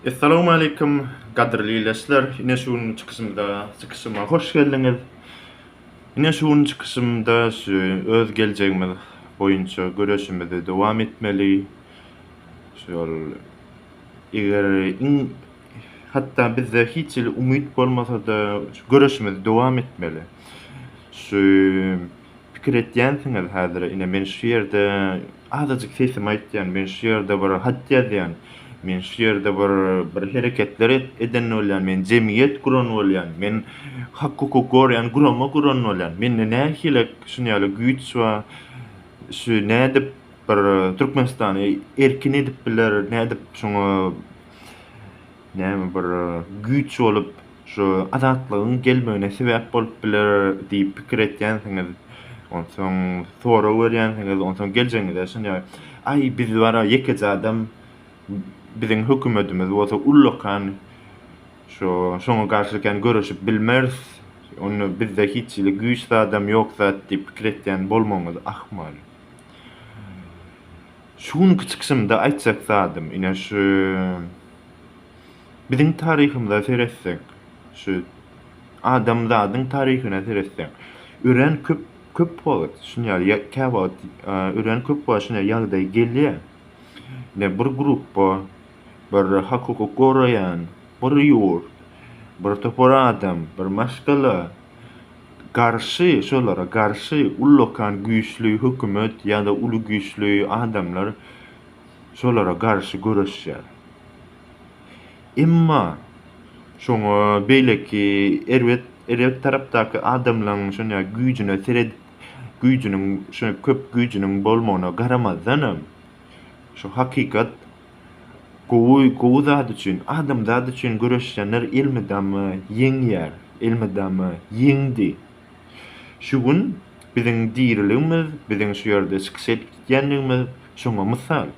Essalawmaleýkum gadyrly ildeşler! Ine şu günki çykyşymda, çykyşyma hoş geldiňiz! Ine şu günki çykyşymda şu öz geljegimiz boýunça göreşimizi dowam etmeli. Şol eger iň hatda bizde hiç hili umyt bolmasa-da şu göreşimizi dowam etmeli. Şu pikir etýänsiňiz häzire ine men şu ýerde azajyk sesimi aýtýan men şu ýerde bir hat ýazýan men şu ýerde bir bir hereketler eden bolýan men jemgyýet guran bolýan men hak hukuk gorýan gurama guran bolýan mende nähili şuny ýaly güýç we şu nädip bir türkmenistany erkin edip biler nädip şuňa näme bir güýç bolup Şu azatlygyň gelmegine sebäp bolup biler diýip pikir etýänsiňiz. Onsoň sorag berýänsiňiz, onsoň geljegiňize ysynýar. Aý, biz bar-a ýekeje adam, biziň hökümetimiz bolsa ullakan, şo, şoňa garşy kän göreşip bilmeris, onda bizde hiç hili güýç zadam ýok zat diýip pikir etýän bolmagyňyz ahmal. Şu günki çykyşymda aýtjak zadym, ine, şu Biziň taryhymyza seretsek, şu adamzadyň taryhyna seretsek, örän köp köp wagt şuny ýaly ýa käwagt örän köp wagt şuny ýaly ýagdaý gelýär. Ne bir gruppa, bir hakyky goraýan, bir ýurt, bir topar adam, bir maşgala garşy, şolara garşy ullakan güýçli hökümet ýa-da uly güýçli adamlar şolara garşy göreşýär. Emma şoňa beýleki erbet erbet tarapdaky adamlaň şonda güýjüne seret güýjüniň şo köp güýjüniň bolmagyna garamazdanam şu hakykat gowy gowy zat üçin adamzat üçin göreşýänler elmydama ýeňýär elmydama ýeňdi şu gün biziň diriligimiz biziň şu ýerde çykyş edýändigimiz şoňa mysal.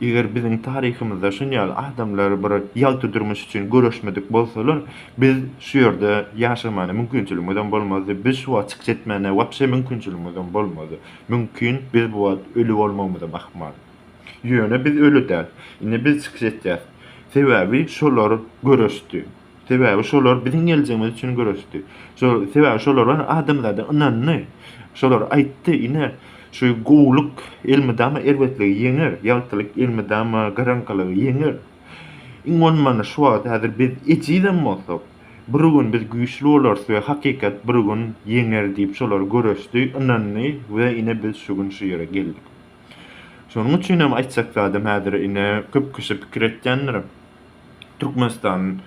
Eger biziň taryhymyzda şuny ýaly adamlar bir ýagty durmuş üçin göreşmedik bolsalar, biz şu ýerde ýaşamana mümkinçiligimizem bolmazdy, biz şu wagt çykyş etmäne wapşe mümkinçiligimizem bolmazdy. Mümkin, biz bu wagt öli bolmagymyzam ahmal. Ýöne biz öli däl. Indi biz çykyş etýäs. Sebäbi şolar göreşdi. Sebäbi şolar biziň geljegimiz üçin göreşdi. Şolar, sebäbi şolar bar adamzada ynandy. Şolar aýtdy, ine, şu gowulyk elmydama erbetligi ýeňer, ýagtylyk elmydama garaňkylygy ýeňer. Iň bolmanda şu wagt häzir biz ejizem bolsak, bir gün biz güýçli bolarys we hakykat bir gün ýeňer diýip şolar göreşdi, ynandy we ine biz şu gün şu ýere geldik. Şonuň üçinem aýtjak zadym häzir ine köp kişi pikir etýändir. Türkmenistan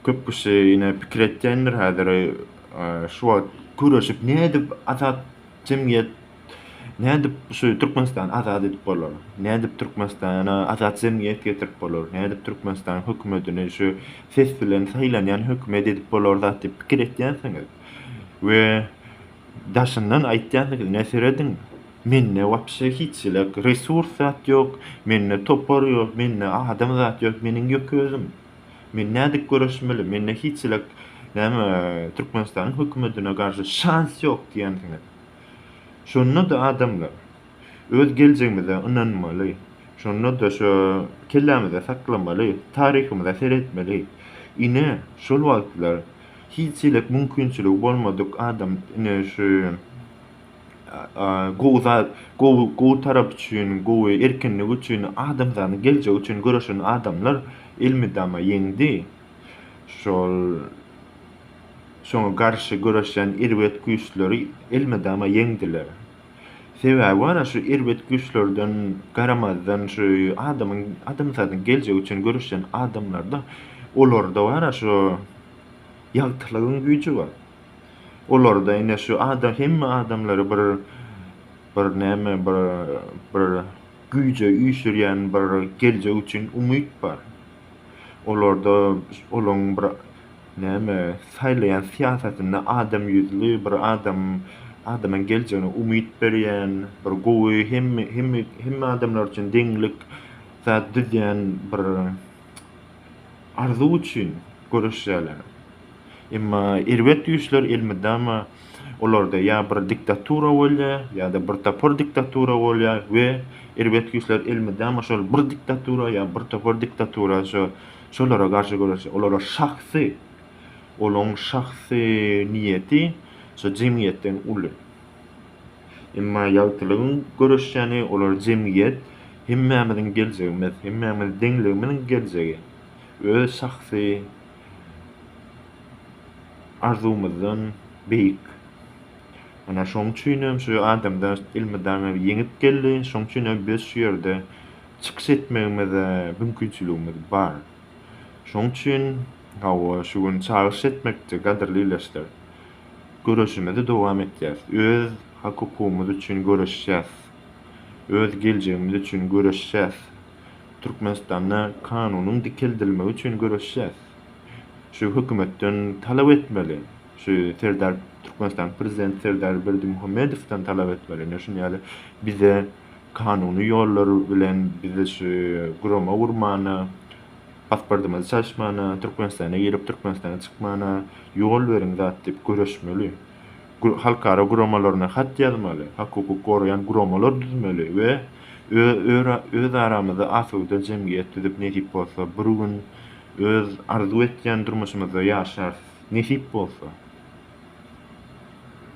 köp kişi ine pikir etýändir häzir şu wagt köreşip nädip azat jemgyýet nädip şu Türkmenistany azat edip bolar? Nädip Türkmenistana azat jemgyýet getirip bolar? Nädip Türkmenistan hökümetini şu ses bilen saýlanýan hökümet edip bolar zat diýip pikir etýänsiňiz we daşyndan aýtýansyňyz ine serediň Mende wapşe hiç jelek resurs zat ýok, mende topar ýok, mende adam zat ýok, meniň ýöke özüm. Men nädip göreşmeli, mende hiç jelek näme Türkmenistanyň hökümetine garşy şans ýok diýensiňiz. Şonda-da adamlar öz geljegimize ynanmaly, şonda-da şo kellämizde saklamaly, taryhymyza seretmeli. Ine şol wagtlar hiç jelek mümkinçiligi bolmadyk adam ine şu. gowy zat, gowy, gowy tarap üçin, gowy, erkinlik üçin, adamzanyň geljegi üçin göreşen adamlar elmydama ýeňdi. Şol şoňa garşy göreşýän erbet güýçleri elmydama ýeňdiler. Sebäbi ana şu erbet güýçlerden garamazdan şu adamyň, adamzadyň geljegi üçin göreşýän adamlarda olarda ana şu ýagtylygyň güýji bar. Olarda ine şu adam hemme adamlary bir bir näme bir bir güýje üýşürýän bir geljek üçin umyt bar. Olarda olaň bir näme saýlaýan syýasatynda adam ýüzli bir adam adamyň geljegine umyt berýän bir gowy hemme hemme hemme adamlar üçin deňlik zat düzýän bir arzuw üçin göreşýärler. Emma erbet güýçler elmydama olarda ýa bir diktatura bolýar, ýa-da bir topar diktatura bolýar we erbet güýçler elmydama şol bir diktatura ýa bir topar diktatura şo şolara garşy göreşýär. Olara şahsy olaň şahsy niýeti şo jemgyýetden uly. Emma ýagtylygyň göreşýäni olar jemgyýet hemmämiziň geljegimiz, hemmämiz deňligimiziň geljegi. Öz şahsy arzuwymyzdan beýik. Ana şoň üçin hem şu adamdaş elmydama ýeňip geldi. Şoň üçin hem biz şu ýerde çykyş etmegimize mümkinçiligimiz bar. Şoň üçin hawa şu gün çagyryş etmekçi gadyrly ildeşler. Göreşimizi dowam etýäs. Öz hak-hukugymyz üçin göreşýäs. Öz geljegimiz üçin göreşýäs. Türkmenistanda kanunyň dikeldilmegi üçin göreşýäs. Şu hökümetden talap etmeli. Şu Serdar Türkmenistanyň prezidenti Serdar Berdimuhamedowdan talap etmeli. Ine şuny ýaly bize kanuny ýollar bilen bizi şu gurama gurmana, pasportymyzy çalyşmana, Türkmenistana girip Türkmenistana çykmana ýol beriň zat diýip göreşmeli. halkara guramalaryna hat ýazmaly, hak-hukuk goraýan guramalar düzmeli we özaramyzda asuda jemgyýet düzüp nesip bolsa bir gün öz arzuw etýän durmuşymyzda ýaşarys nesip bolsa.